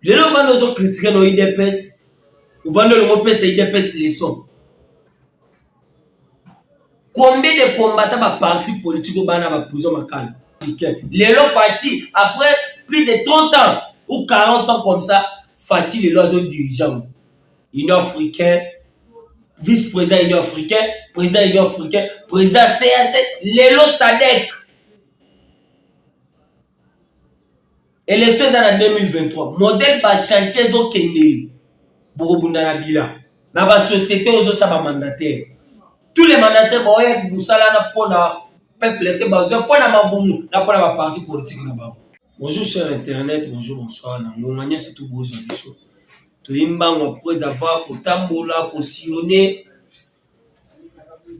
lelo ovanda ozo critique na udps ovanda olingo opesa udps leson combien de combattant ba parti politique obana ba prison makala lelo fati après plus de 30 ans ou 40 ans comme ça fati lelo azo dirigeant union africain vice-président union africain président union africain président cac lelo sadek Election eza na 2023 modèle ba chantier ezo kendeli bokobunda na bila na ba société ozotya ba mandataire tous les mandataires baoyaki mosala na mpo na peuple te bazwa mpo na mabumu na mpo na ba parti politique na bango bonjour sur internet bonjour bonsoir na ngonga nyonso tu bozwa biso toyei mbango mpo ezava kotambola kosillone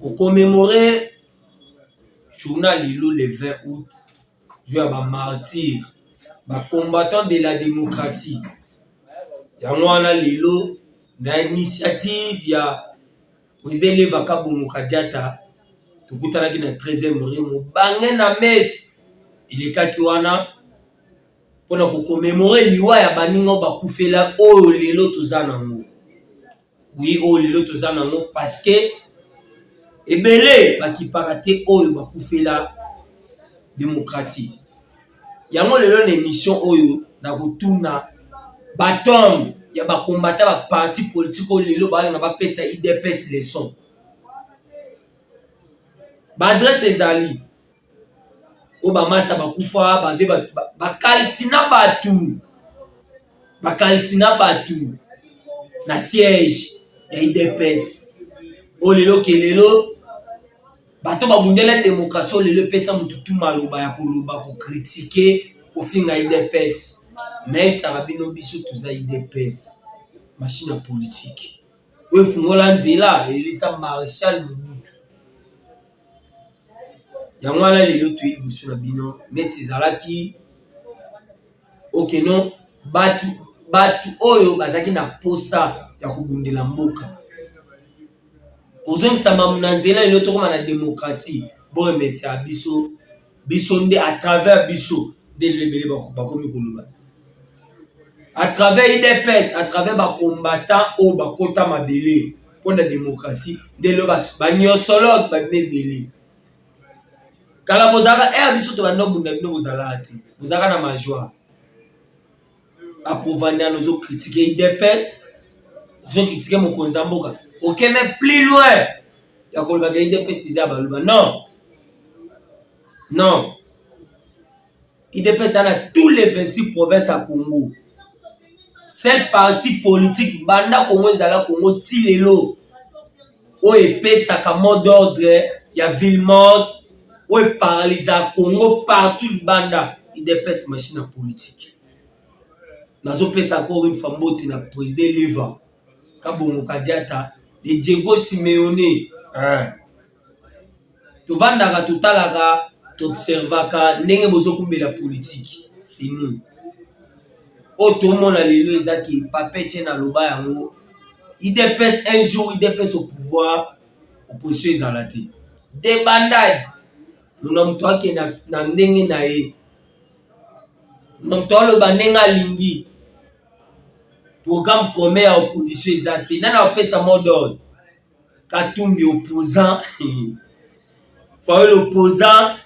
ko commemorer journal lelo le 20 aout jour ya ba martyrs ba combattants de la democratie yango wana lelo na initiative ya president Eleva Kabongo Kadiata tokutanaki na 13e rue mobange na messe elekaki wana mpona ko commemorer liwa ya baninga oyo bakufela oyo lelo toza nango Oui, oh, lelo toza nango parce que ebele bakipaka te oyo bakufela démocratie. Yango lelo na émission oyo nakotuna batombe ya bakombata baparti politike oyo lelo balinga bapesa idps leson baadrese ezali oyo bamasa bakufa bave bakalisi na bato bakalisi na bato na siège ya idps oyo lelo ke lelo bato babundela demokrasi oyo lelo epesa motu tu maloba ya koloba kokritike kofinga idps naesaka bino biso toza idps mashine ya politike oyo efungola nzela elelisa marechal mobutu yango wana lelo toye liboso na bino mesi ezalaki okeno batu batu oyo bazalaki na posa ya kobundela mboka kozongisa mamu na nzela lelo tokoma na demokrasi boremesia biso biso nde à travers biso nde lebele bakomi koloba à travers idps à travers bacombattant oyo bakota mabele mpo na démocratie nde lelo banyosologe babimi ebele kala bozalaka ere eh, biso tobanda obunda bino bozalaka te bozalaka na majoire apovanda nozo kritike idps ozo kritike mokonzi ya mboka oke me plus loin ya kolobaka idps eza ya baluba non non idps ana tous les 26 province ya congo sel parti politique banda congo ezala congo ti lelo oyo epesaka mot d'ordre ya ville morte oyo eparaliza congo partout libanda idps machine ya politique nazopesa encore une fois mbote na president leva kabongo kadiata le diego simeone hein. tovandaka totalaka toobservaka ndenge bozokumbela politike sini oyo tomona lelo eza ke papece na loba yango idps un jour idps au pouvoir opposition ezala te debandade muna moto ake na, na ndenge na ye muna moto aloba ndenge alingi programme commun ya opposition eza te nani apesa mot d'ordre Katumbi opposant Fayulu opposant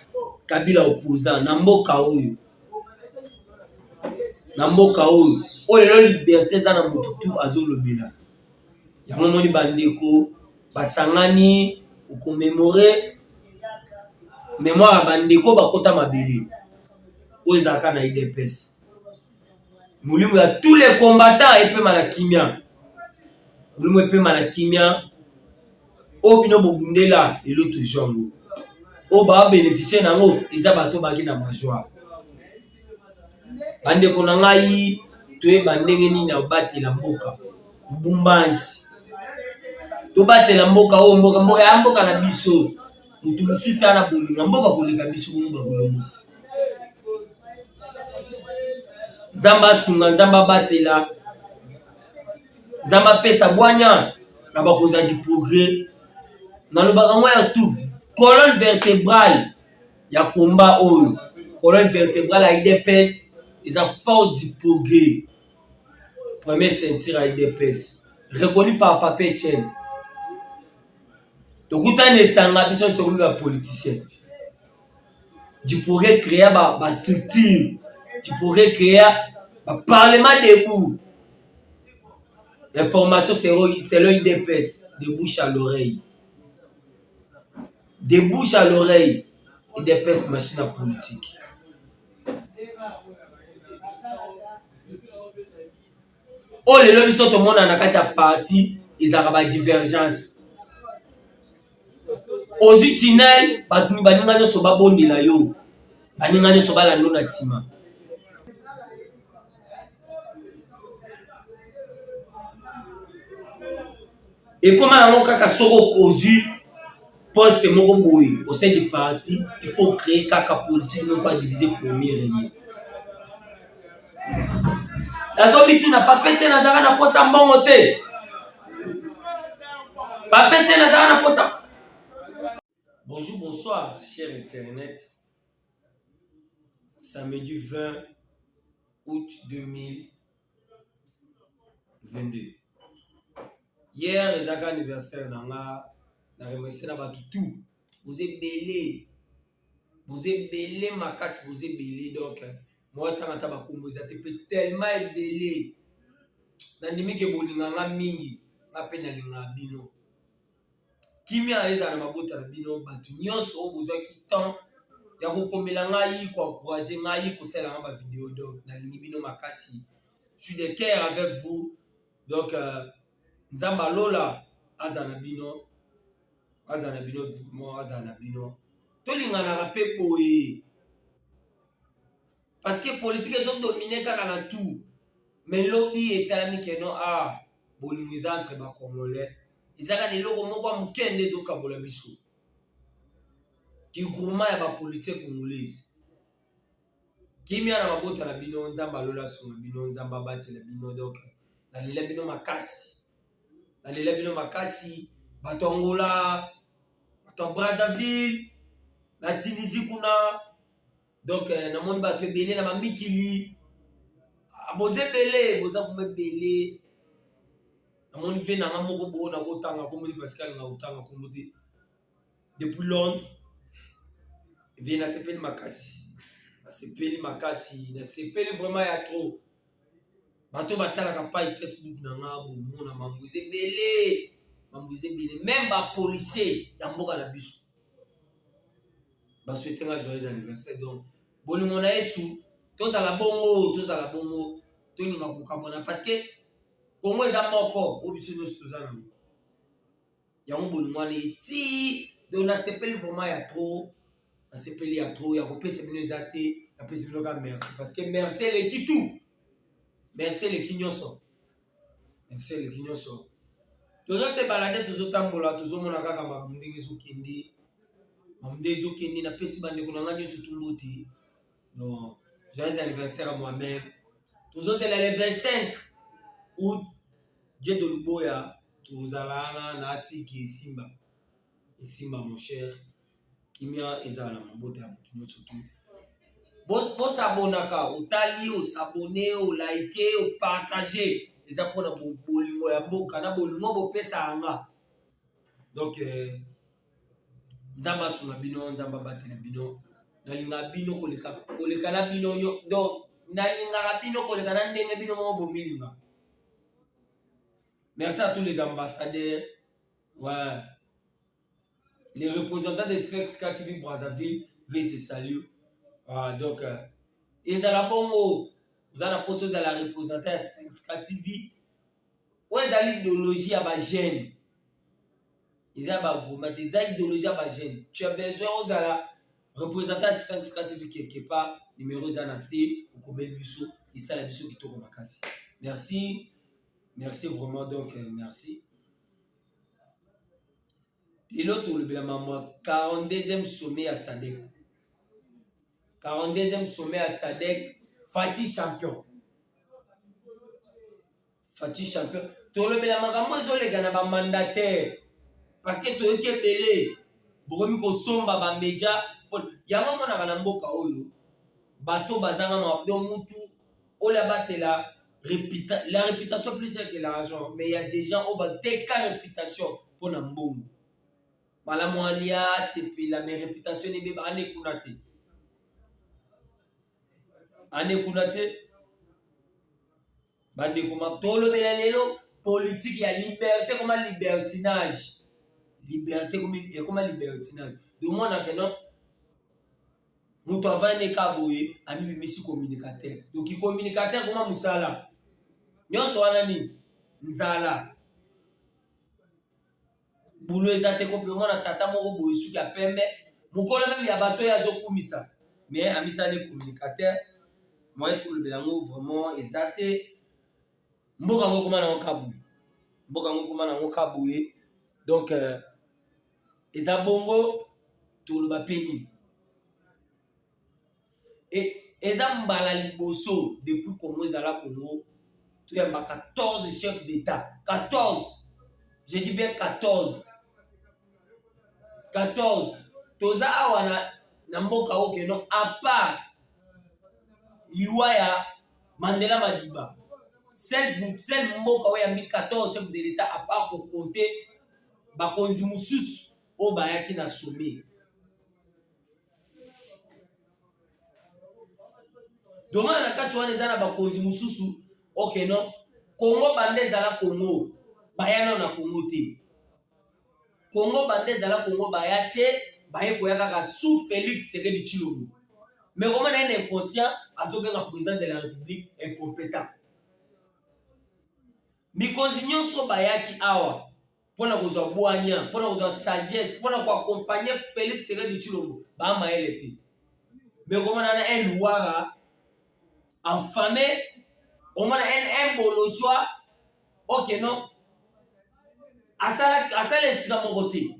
Kabila opposant na mboka oyo na mboka oyo oyo lelo liberte eza na motu tu azolobela yango moni bandeko basangani kokomemore memoire ya bandeko bakota mabele oyo ezalaka na idps Molimo ya tous les combattants epema na kimia. Molimo epema na kimia. Oyo bino bobundela lelo tozwa yango. Oyo ba beneficie na yango eza bato baki na majwa. Bandeko na ngai toyeba ndenge nini ya kobatela mboka lubumbansi tobatela mboka oyo mboka mboka ya mboka na biso moto mosusu tala bolinga mboka koleka biso bomo bakolomboka nzambe asunga nzambe abatela nzambe apesa bwanya na bakonzi ya diprogrès nalobaka ngo ya tout colonne vertébrale ya komba oyo colonne vertébrale ya idps eza fort diprogrès premier ceinture ya idps reconnu par papier chaine tokutani esanga biso nyonso tokomi ba politicien tu pourrais créer ba, ba structure tu pourrais créer ba parlement debout information selon idps de bouche à l'oreille de bouche à l'oreille idps machine ya politique oyo lelo biso tomona na kati ya parti ezalaka badivergence ozwi tinel baninga nyonso babondela yo baninga nyonso balando na nsima ekoma nango kaka soki okozwi poste moko boye au sein du parti il faut créer kaka politique moko ya divise premier rene nazomituna papete nazalaka na posa mbongo te papete nazalaka na posa bonjour bonsoir cher internet samedi 20 août 2000 22 hier ezaka anniversaire na nga na remercie na bato tout boza ebele boza ebele makasi boza ebele donc moya ntango ata bakombo eza te mpe tellement ebele nandimi ke bolinga nga mingi nga mpe nalinga bino Kimia ezala na mabota na bino bato nyonso oyo bozwaki temps ya kokomela ngai koencourage ngai kosala nga ba video donc nalingi bino makasi suis de cœur avec vous donc euh, nzambe alola azala na bino azala na bino vraiment azala na bino tolinganaka mpe boye Parce que politique ezo dominer kaka na tout. Mais lobi etalami que non ah bolingo eza entre ba congolais. Ezaka na eloko moko ya moke nde ezo kabola biso. Ki groupement ya ba politique congolaise. Kimia na mabota na bino Nzambe alola suma bino Nzambe abatela bino donc nalela bino makasi. Nalela bino makasi bato Angola, bato Brazzaville, na Tunisie kuna Donc euh, namoni bato ebele na bamikili ah, boza ebele boza vraimen ebele namoni ve nanga moko boo nakotanga kombo te parce alinga kotanga kombo te depuis londres ve nasepeli makasi nasepeli makasi nasepeli vraiment ya trop bato batalaka page facebook na nga bomona mambo eza ebele mambo eza ebele meme bapolicier ya mboka na biso baswete nga joyeux anniversaire donc bolingo na yesu tozala bongo tozala bongo tonyima kokabwana parce que kongo eza moko oyo biso nyonso toza nango yango bolingo wana eti donc nasepeli vraiment ya trop nasepeli ya trop ya kopesa bino eza te napesi bino kaka merci parce que merci eleki tout merci eleki nyonso merci eleki nyonso toza se balade tozotambola tozomona kaka makambo ndenge ezokende makambo ndenge ezokende napesi bandeko na ngai nyonso tumbuti Non, joyeux anniversaire à moi-même. tozozela le 25 août je de luboya tozalana na asiki esimba esimba mon cher kimia ezala na mabota ya motu nyonso tu bosabonaka otali osabone olaike opartage eza mpona bolingo ya mboka na bolingo bopesa yanga donc euh, Nzambe asunga bino, Nzambe abatela bino. Nalingaka bino koleka koleka na bino nyo. Donc nalingaka bino koleka na ndenge bino moko bomilinga. Merci à tous les ambassadeurs. Ouais. Les représentants des Specs KTV Brazzaville, Vice de Salut. Ah, donc, euh, ezala bongo oza na mposa ozala représente ya sphinxka tv oyo ezali idéologie ya bagene eza ba argument eza idéologie ya ba jeune tu as besoin ozala représentant ya sphinx ka tv quelque part numéro eza na se okomeli biso esala biso kitoko makasi merci merci vraiment donc euh, merci lelo tolobela mambo ya 42e sommet ya sadek 42e sommet ya sadek fati champion Fatih champion tolobela makambo ezoleka na ba mandataire parce que toyoki ebele bokomi kosomba ba media yango omonaka na mboka oyo bato bazanga makambo donc mutu oyo abatela reputa, la réputation plus que l'argent mais ya des gens oyo bateka réputation mpo na mbongo malamu alia sepela mais réputation ebeba ane kuna te ane kuna te Bandeko ma tolobela lelo politiki ya liberte ekoma libertinage liberte ekoma libertinage domonake no moto avandi eka boye amibimisi communicateur donc communicateur ekoma mosala nyonso wana nini nzala Boulot eza te ko pe mwana tata moko boye suki ya pembe mukolo meme ya bato ya zokumisa mais amisani communicateur moyen tolobela yango vraiment eza te mboka ngo koma nango kabu mboka ngo koma nango kabu ye donc euh, eza bongo toloba pe nini Et eza mbala liboso depuis Congo ezala Congo toyamba 14 chefs d'etat 14 je dis bien 14 14 toza awa na, na mboka oyo keno à part liwa ya Mandela Madiba seul seul mboka oyo yambi 14 chefs de l'etat à part ko compter bakonzi mosusu oyo bayaki na sommet domana na kati wana eza na bakonzi mosusu okay no kongo banda ezala kongo baya nao na kongo te kongo banda ezala kongo baya te baye koya kaka sous félix sekedi tshilombo mais komona ye na inconscient azobenga président de la république incompétent mikonzi nyonso bayaki awa mpo na kozwa bwanya mpo na kozwa sagesse mpo na koakompagne felix sekedi tshilombo bamayele te mekomana na un wara enfame omona un bolojwa oke no asala esika moko te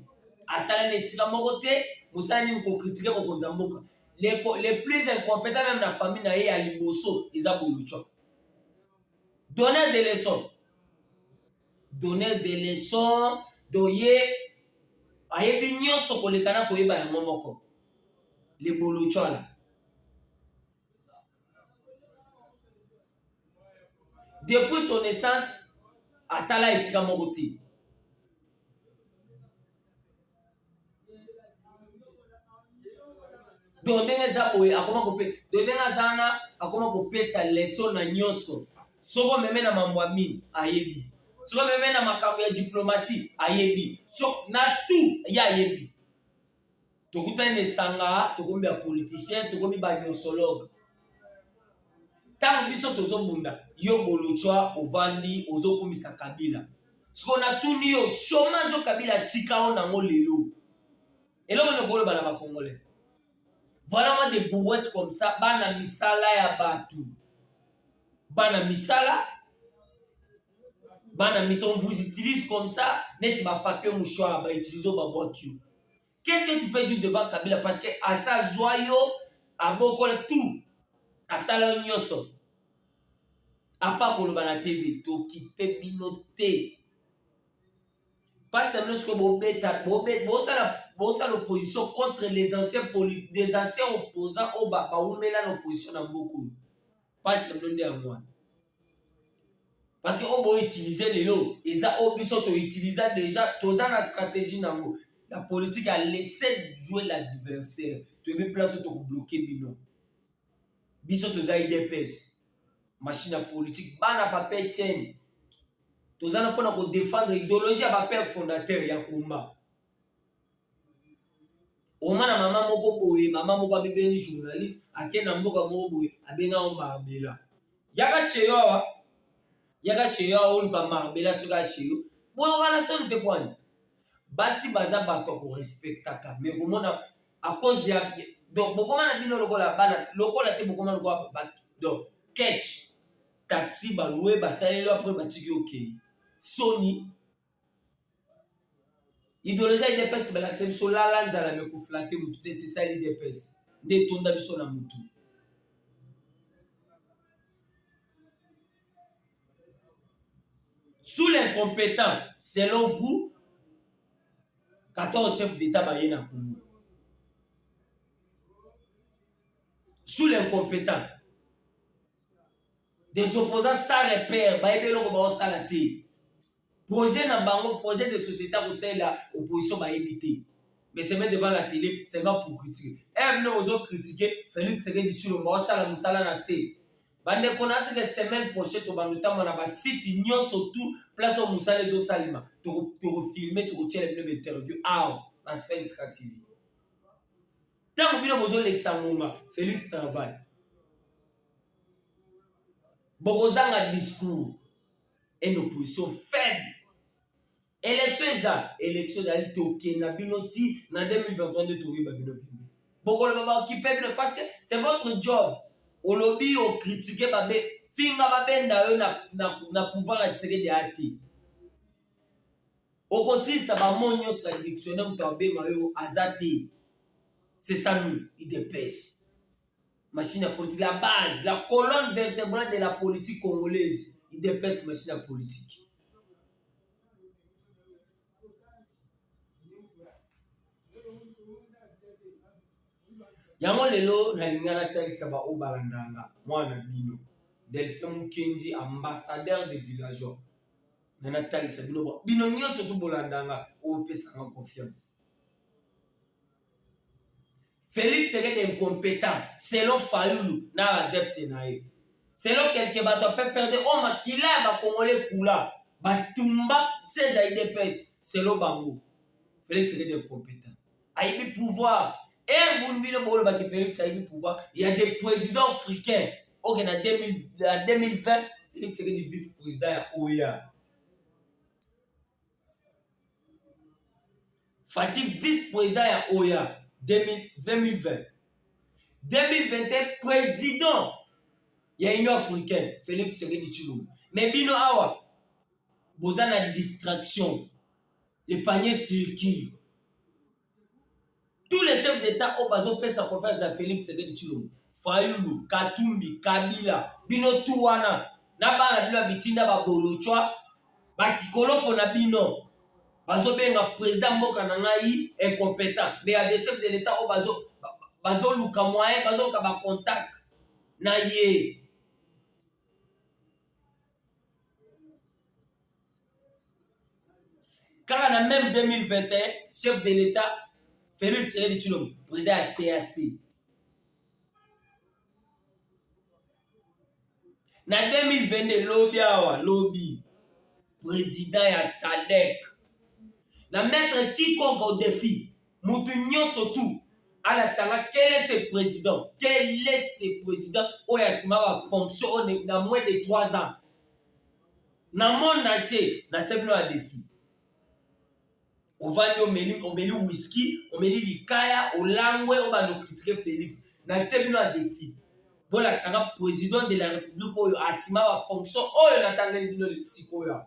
asala na esika moko te mosala nini kokritike mokonzi ya mboka le plus incompetent meme na famille na ye ya liboso eza bolojwa donner de leçon donner des leçons doye ayebi nyonso koleka na koyeba yango moko lebolocwana depuis son naissance asala esika moko te donc ndenge eza boye akoma kope donc ndenge aza wana akoma kopesa leso na nyonso soko meme na mambo ya mini ayebi soko meme na makambo ya diplomasi ayebi so na tout ye ayebi tokutani na esanga tokomi ba politicien tokomi ba nyonsologue ntango biso tozobunda yo bolutswa ovandi ozokumisa kabila siko natuni yo chomage o kabila atika o nango lelo eloko nini okoloba na bakongole voilà moi des brouettes comme ça bana misala ya bato bana misala bana misa on vous utilise comme ça neti bapapier mouchoir bautilise babwaki yo Qu'est-ce que tu peux dire devant Kabila parce que asa zwa yo abokola tout asala yo nyonso apa koloba na TV tokipe bino te pasta bino sikoyo bobeta bosala bosala opposition contre les anciens des anciens opposants oyo bawumela na opposition na mboka oyo pasi na bino nde yango wana parce que oyo boutilize lelo eza oyo biso toutiliza déjà toza na stratégie na yango la politique a laissé jouer l'adversaire toyebi place oyo tokobloke bino biso toza idps machine ya politique bana papa etienne toza na mpona kodefendre idéologie ya bapère fondateur ya combat omana mama moko boye mama moko abebeni journaliste ake na mboka moko boye abenga o marbela yaka sheyo awa yaka sheyo awa oluka marbela soki asheyo boyokana soni te pwani basi baza bato ya korespectaka me komona akozi ya donc bokoma na bino lokola bana lokola te bokoma lokola babaki donc ketch taxi balue basaleli apres batiki okei soni Ideologie ya UDPS balakisa biso lala nzala me koflate mutu te c'est ça l'UDPS nde etonda biso na mutu sous l'incompétent selon vous 14 chef d'état baye na Congo sous l'incompétent des opposants sans repère bayebi eloko baosala te Projet na bango, projet de société ya kosalela opposition bayebi te. Mais c'est devant la télé, seulement pour critiquer. Eh bino ozo critiquer Felix Tshisekedi Tshilombo osala musala na se. Bandeko na seke semaine prochaine tobanda ntango na basite nyonso tout place oyo mosala ezosalema tokofilme tokotyela bino bainterview awa na sphinx ka tv ntango bino bozolekisa ngonga félix travail bokozanga discours une opposition faible élection eza élection ezali tokende na bino ti na 2023 nde toyeba bino bino bokoloba baokipe bino parce que c'est votre job olobi okritike babe finga babenda yo na, na, na pouvoir ya tshisekedi aya te okosilisa bamo nyonso ya dictionnaire moto abema yo aza te c'est ça nous idps Machine ya politique, la base, la colonne vertebrale de la politique congolaise, idps machine ya politique. yango lelo nalinga natalisa baoyo balandanga mwana na bino delphin mukenji ambassadeur de villageois na natalisa bino bino nyonso to bolandanga oyo opesanga confiance Felix c'est un incompetent selon Fayulu na adepte na ye. Selon quelques bato ya PPRD oyo oh, makila ya bakongole kula batumba siège ya IDPS selon bango. Felix c'est un incompetent. Ayibi pouvoir. Ere buni bino bolobaki Felix ayibi pouvoir ya des présidents africains oke na 2020 Felix c'est un vice-président ya OEA. Fatshi vice president ya oya 2020 2021 president ya union africaine felix tshisekedi tshilombo me bino awa boza na distraction le panier circule tous les chefs d'etat oyo bazopesa confiance na Felix Tshisekedi Tshilombo, Fayulu, Katumbi, Kabila, bino tu wana na bana bino ya bitinda babolochwa bakikoloko na bino bazobenga president mboka na ngai incompetent mais ya des chefs de l'etat oyo bazo bazoluka moyen bazoluka bacontact na ye kaka na meme 2021 chef de l'etat felix tshisekedi tshilombo président ya cac na 2022 lobi awa lobi président ya sadek na mettre quiconque au défi mutu nyonso tu alakisa nga quel est ce président quel est ce président oyo asima ba fonction oyo na moins de 3 ans na monde entier natia bino ya defi ovandi omeli omeli whisky omeli likaya olangwe obanda okritike félix natia bino ya defi bolakisa nga président de la république oyo asima ba fonction oyo natangeli bino sikoyo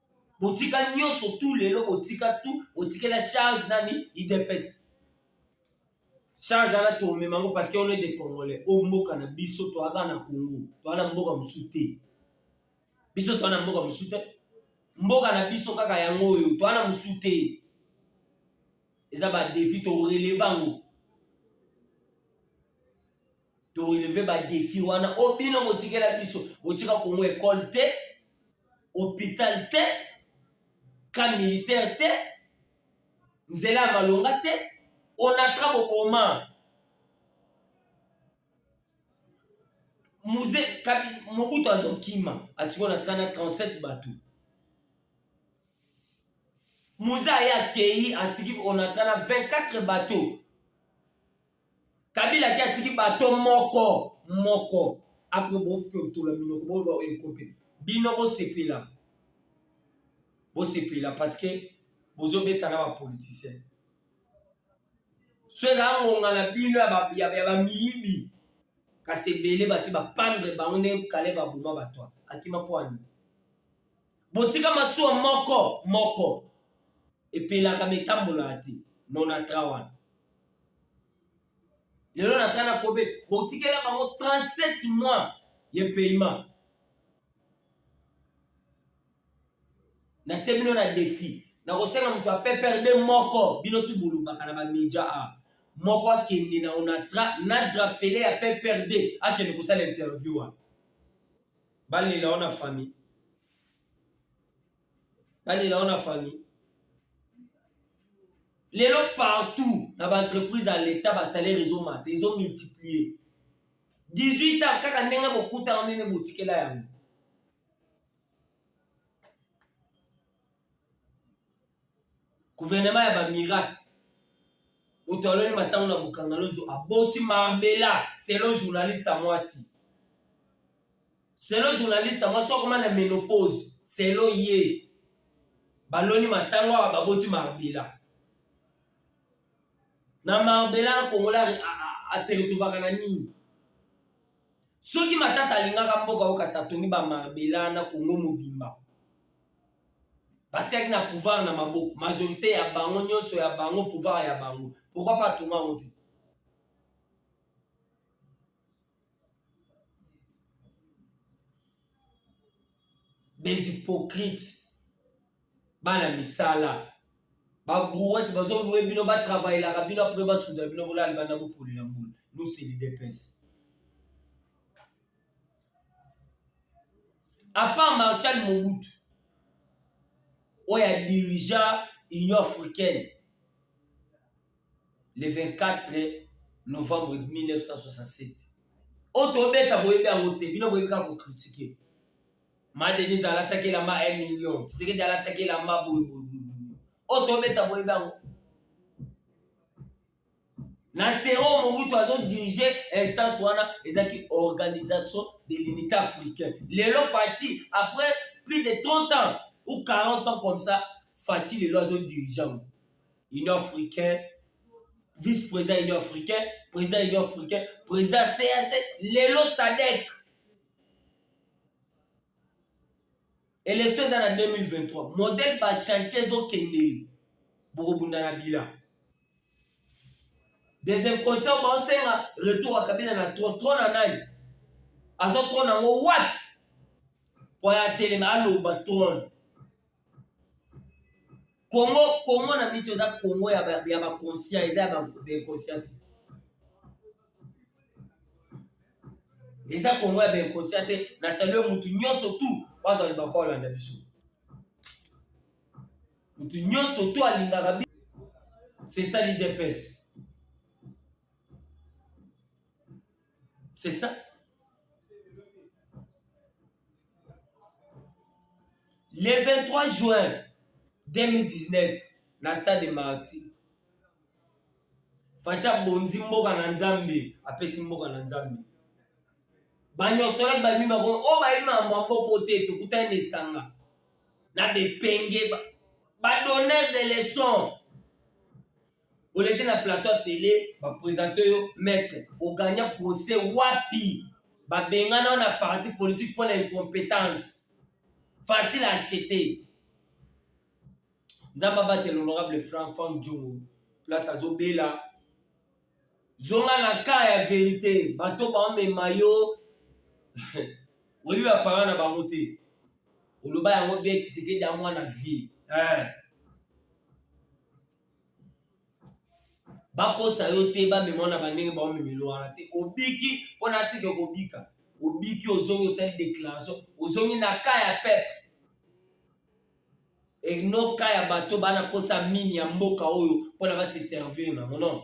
botika nyonso tu lelo botika tu botikela charge nani idps charge wana tomema yango parce que on est des congolais oyo mboka na biso toyaka na congo toya na mboka mosusu te biso toya na mboka mosusu te mboka na biso kaka yango oyo toya na mosusu te eza badefi toreleva yango to releve ba defi wana o oh, bino botikela biso botika kongo ekole te hopital te ka militaire te nzela ya malonga te onatra boboma muze kabi mobutu azokima atiki onatra na 37 bato muze aye akeyi atiki onatra na 24 bateau kabila ki atiki bato moko moko apres bofiotola minoko boloba oyo ekope bino bosepela bosepela parceke bozobeta na bapoliticien so ezala ngonga na bino ya bamiyibi kasi ebele basi bapandre bango nde kale baboma bato akima pwani botika masuwa moko moko epelaka metambolaka te nonatra wana lelo na tala kobe botikela bango 37 mois ya paiement natie bino na defi nakosenga moto ya pprd moko bino tu bolobaka na bamedia a moko akende na onatra na drapele ya pprd akende kosala interview wana Balela ona famille. Balela ona famille. lelo partout na baentreprise ya leta basalaire ezomata ezomultiplie 18 ans kaka ndenge bokutaka ndenge botikela yango Gouvernement ya ba miracle. Moto aloni masango na bokangalozo aboti marbela selon journaliste ya mwasi. Selon journaliste ya mwasi okoma na menopause selon ye. Baloni masango awa baboti marbela. Na marbela na kongola ase retrouvaka na nini? Soki matata alingaka mboka okasa atongi ba marbela na Congo mobimba. basiaki na pouvoir na maboko majorité ya bango nyonso ya bango pouvoir ya bango pourquoi pas atonga yango te des hypocrites bana misala babrouette bazoloue bino batravaillelaka bino apres basuda bino bolala libanda bopolela mbula nous c'est lidepese Apart Marshal Mobutu oyo a dirigea Union africaine le 24 novembre 1967 oyo tobeta boyebi yango te, bino boyebi kaka kokritike. Ma Denise alataki elamba 1 million, Tshisekedi alataki elamba boye boye boye, oyo tobeta boyebi yango na sero mobutu azodirige instance wana ezalaki organisation de l'unité africain lelo fati après plus de 30 ans ou 40 ans comme ça fati lelo azodirige union africain vice-président union africain président union africain président cac lelo sadek Election eza na 2023 modèle ba chantier ezo kendeli bokobunda na bila des inconscients baosenga retour ya kabila na tro tro na nani azo tro nango wapi po ya telema aloba trone Congo Congo na miti eza Congo ya ba ya ba conscient eza ya ba inconscient eza Congo ya ba inconscient te na salue mutu nyonso tout bazo le bako landa biso mutu nyonso tout alingaka biso c'est ça l'idps C'est ça. Le 23 juin 2019, na stade de Martyr, Fatshi abonzi mboka na Nzambe, apesi mboka na Nzambe. Banyosolaki bayebi bango, oyo oh, bayebi makambo ya mboka te, tokutani na esanga na bepenge, badonneur de leçon oleki na plateau ya tele bapresente yo maître ogagna procès wapi babengana yo na parti politique mpo na incompétence facile à acheter nzambe abatela honorable franc franc djongo place azobela zonga na ka ya verité bato baomema yo oyebi bapara na bango te oloba yango beti sekedi ya mwana vie eh. bakosa yo te bamema na bandenge baomemelo wana te obiki mpo na seke kobika obiki ozongi osali declaration ozongi na ka ya pepe enoka ya bato bana mposa mini ya mboka oyo mpona base servir na mono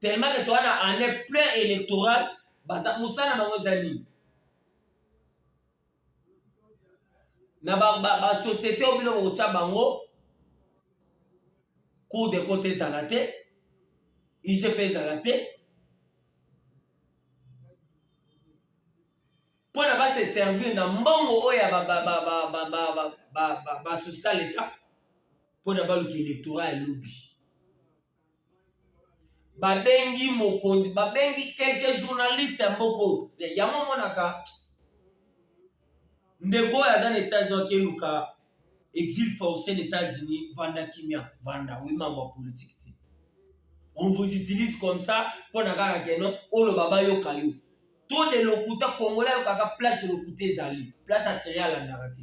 tellement que toza na année plein électorale baza mosala bango eza nini na basociété oyo bino bokotya bango cour de compte ezala te igp ezala te mpo na base servir na mbongo oyo ya basociété ya leta mpo na baluka électorat ya lobi babengi mokonzi babengi quelques journalistes ya mboko yango omonaka ndeko oyo aza na états-unis akeluka exil forcé na états-unis vanda kimia vanda oui mambo ya politique te on vous utilise comme ça mpo na kaka keno oloba bayoka yo to de lokuta kongola ayokaka place lokuta ezali place ya serie alandaka te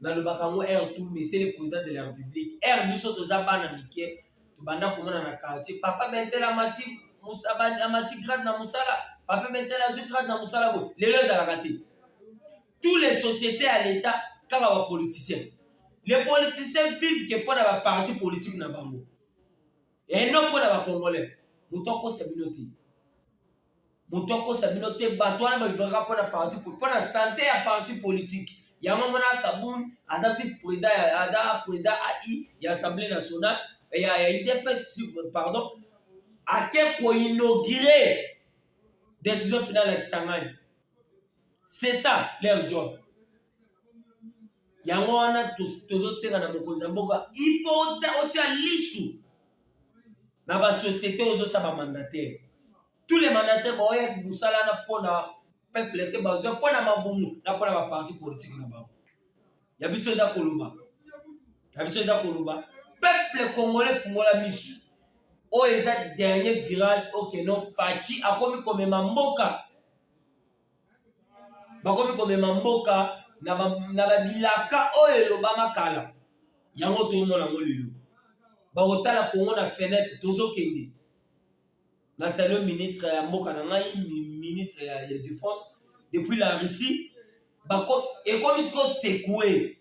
nalobaka yango air tout mais c'est le président de la république air biso toza bana mike tobanda komona na quartier papa bentele amati amati grade na mosala papa bentele azwi grade na mosala boye lelo ezalaka te tous les sociétés ya l'état kaka bapoliticien les politiciens vivent ke mpo na baparti politique na bango eno mpo na bacongolais moto akosa bino te moto akosa bino te bato wana bavivaka mpo na parti mpo na sante ya parti politike yango mona kabun aza vice président aza président ai ya assemblée nationale ya, ya idps pardon ake koinaugure décision finale ya kisangani c'est ça leur job yango wana tozosenga na mokonzi ya mboka il faut otya lisu na ba société ozotya ba mandataire tous les mandataire baoya mosala na mpona peuple te bazwa mpona mabumu na mpona ba parti politique na bango ya biso eza koloba ya biso eza koloba peuple congolais fungola misu oyo eza dernier virage okeno faci akomi komema mboka bakomi komema mboka na babilaka oyo elobama kala yango tomona yango lelo bakotala kongo na fenetre tozokende na salio ministre ya mboka na ngai ministre ya, ya defense depuis la russie ekomi sikoyo sekue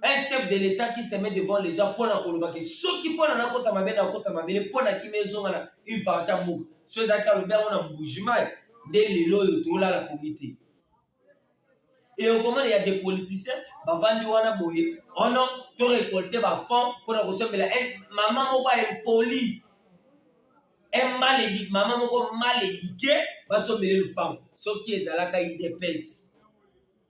un chef de l'État qui se met devant les gens pona koloba ke soki pona na kota mabele na kota mabele pona kima ezonga na une partie ya mboka so ezalaki alobi yango na mbujimai nde lelo oyo tolala pongi te e okomona ya des politiciens bavandi wana boye ono oh to récolte bafond pona kosombela eh, mama moko impoli emaledi mama moko mal éduqué basombele lupango soki ezalaka idps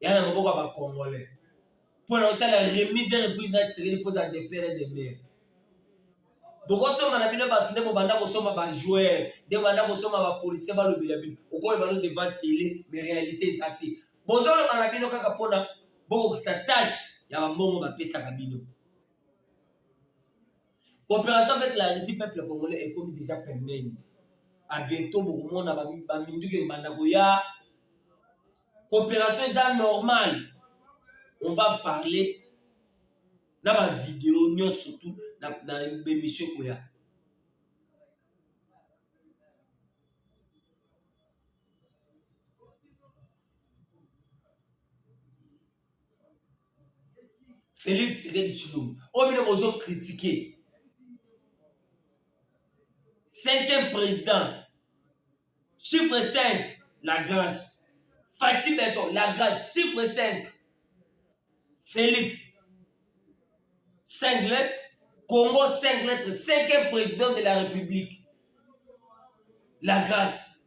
ya na maboko ya bacongolais mpo na kosala remise reprise na tshisekedi mpo ozala de pere de mere bokosomba na bino bato nde bobanda kosomba bajoueur nde bobanda kosomba bapolitisien balobela bino okoloba no devant tele me réalité eza te bozoloba na bino kaka mpona bokokisa tâche ya bambongo bapesaka bino Cooperation avec la Russie peuple congolais ekomi deja pembeni. A bientôt bokomona ba ba minduki ebanda koya. Cooperation eza normale. On va parler na ba video nyonso tout na na emission koya. Felix Tshisekedi Tshilombo oyo bino bozo kritike cinquième président chiffre 5 la grâce Fatshi Beton la grâce chiffre 5 Felix 5 lettres Congo 5 lettres cinquième président de la République la grâce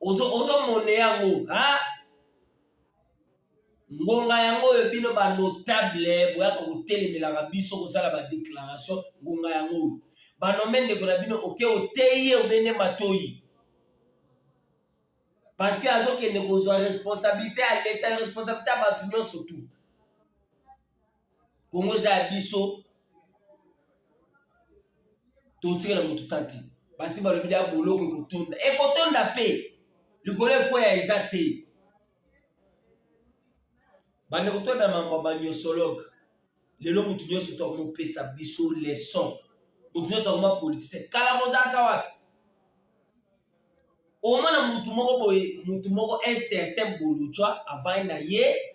ozo ozo mone yango ha ngonga yango oyo bino banotable boyaka kotelemelaka biso kosala badeklaration ngonga yango oyo banome ndeko na bino oke oteyi ye obende matoyi parceke azokende kozwa responsabilité ya leta responsabilité ya bato nyonso tu Congo eza ya biso, totikela motu ta te. Basi balobi da boloko ekotonda, ekotonda mpe likolo ekweya eza te. Bandeko to na mambo ya banyosologe, lelo motu nyonso to akomopesa biso leson, motu nyonso akoma politise. Kala bozalaka wapi? omona motu moko boye, motu moko un certain bolujwa avai na ye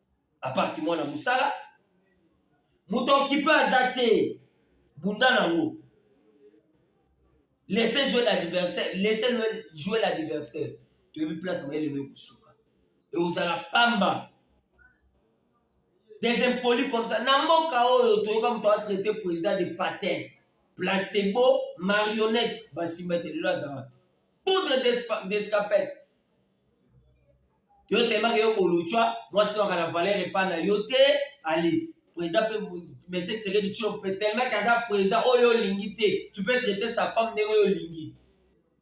apart mwana mosala moto okipe aza te bunda nango laisse jouer l'adversaire laisse jouer l'adversaire toyebi place na ye lelo ekosuka ekozala pamba des impolis comme ça na mboka oyo toyoka moto atraite président de patin placebo marionnette basimba ete lelo azala poudre d'escapette yo telemaka yo koluchwa mwasi waka na valeur epa na yo te ali président pe monsieur tshisekedi tshilombo pe telemaka aza président oyo olingi te tu peux traiter sa femme ndenge oyo olingi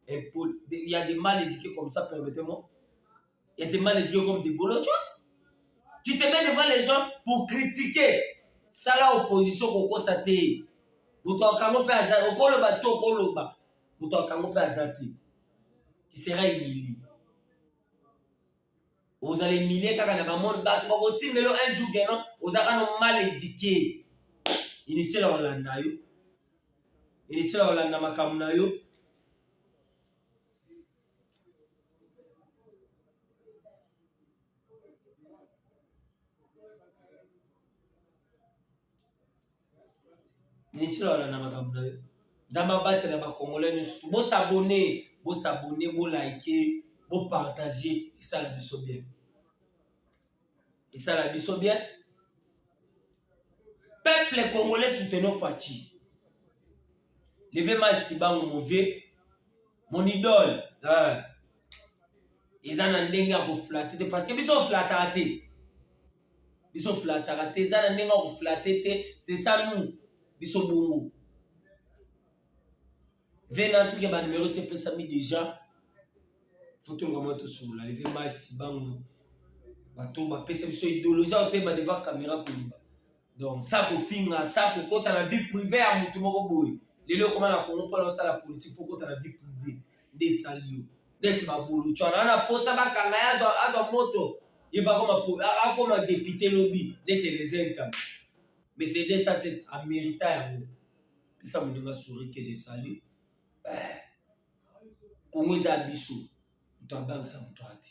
il y a des mal éduqués comme ça permettez moi il y a des mal éduqués comme des bolochwa tu te mets devant les gens pour critiquer sala opposition kokosa te moto akango mpe aza okoloba to okoloba moto akango mpe aza te tu seras humilié ozala humilié kaka na bamone bato bakotindelo un jour geno oza kano mal éduqué inutile olanda yo inutile olanda makambo na yo Ministre wana na makambo na yo. Nzambe abatela ba congolais nyonso. Bo s'abonner, bo s'abonner, bo liker, bo partager esala biso bien. Esala biso bien. Peuple congolais soutenons Fatshi. Levez ma sibango mon vieux, mon idole. Hein. eza na ndenge ya koflate te parce que biso oflataka te biso flataka te eza na ndenge ya koflate te sesa nu biso bongo venasike banumero sepesami deja fotolukama tosolola leve masi bango bato bapesa biso idologie otema deva kamera koloba donc sa kofinga sa kokota na vie prive ya motu moko boye lelo okoma na kongo mpona osala politike fokota na vie prive nde esali yo neti bapulucu wana wana posa bakanga ye azwa moto ye akoma depute lobi neti elezenta mercedes ase amerita yango pesa moninga souri que je salut eh, kongo eza ya biso moto abangisa moto ate